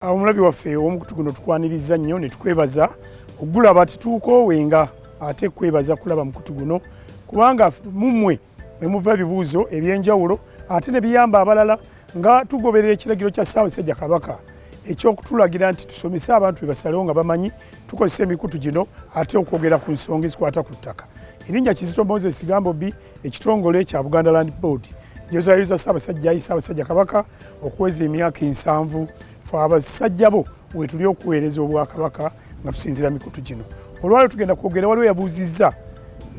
Omulabi waffe ow'omukutu guno tukwaniriza nnyo ne tukwebaza okugulaba tetuukoowenga ate kwebaza kulaba mukutu guno kubanga mummwe mwe muva ebibuuzo eby'enjawulo ate ne biyamba abalala nga tugoberera ekiragiro kya Ssaabasajja Kabaka eky'okutulagira nti tusomese abantu bebasalewo nga bamanyi tukozesa emikutu gino ate okwogera ku nsonga ezikwata ku ttaka erinnya kizito moses gambo bi ekitongole kya buganda land board njozayoza ssaabasajja ayi ssaabasajja kabaka okuweza emyaka ensanvu fe abasajja bo wetuli okuweereza obwakabaka nga tusinzira mikutu gino olwaliro tugenda kwogera waliwo yabuuzizza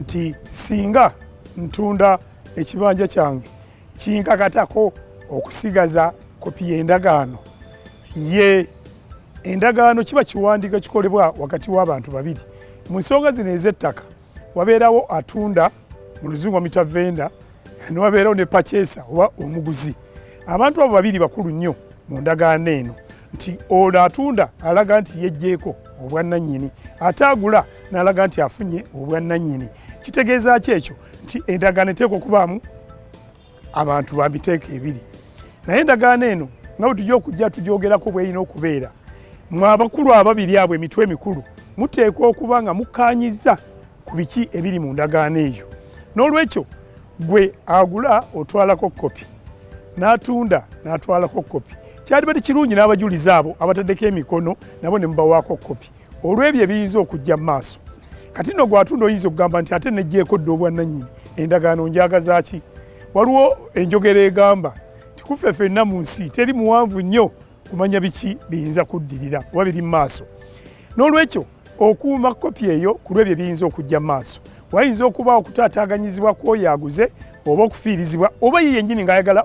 nti singa ntunda ekibanja kyange kinkakatako okusigaza kopi y'endagaano ye endagaano kiba kiwandiiko kikolebwa wakati w'abantu babiri mu nsonga zino ez'ettaka wabeerawo atunda mu luzungu amita venda newabeerawo ne pachesa oba omuguzi abantu abo babiri bakulu nnyo mu ndagaano eno nti ono atunda alaga nti yejjeeko obwannannyini ate agula n'alaga nti afunye obwannannyini kitegeeza ki ekyo nti endagaano eteekwa okubaamu abantu ba miteeko ebiri naye endagaano eno nga bwe tujja okujja tugyogerako bwerina okubeera mwe abakulu ababiri abo emitwe emikulu muteekwa okuba nga mukkaanyizza ku biki ebiri mu ndagaano eyo n'olwekyo gwe agula otwalako kopi n'atunda n'atwalako kopi kyalibadde kirungi n'abajulizi abo abataddeko emikono nabo ne mubawaako kopi olw'ebyo ebiyinza okujja mu maaso kati no gwatunda oyinza okugamba nti ate nejjeeko dda obwannannyini endagaano njagaza ki waliwo enjogera egamba nti kuffe fenna mu nsi teri muwanvu nnyo kumanya biki biyinza kuddirira oba biri mu maaso n'olwekyo okuuma kopi eyo ku lw'ebyo ebiyinza okujja mu maaso wayinza okuba okutaataaganyizibwa kwoyo aguze oba okufiirizibwa oba ye yennyini ng'ayagala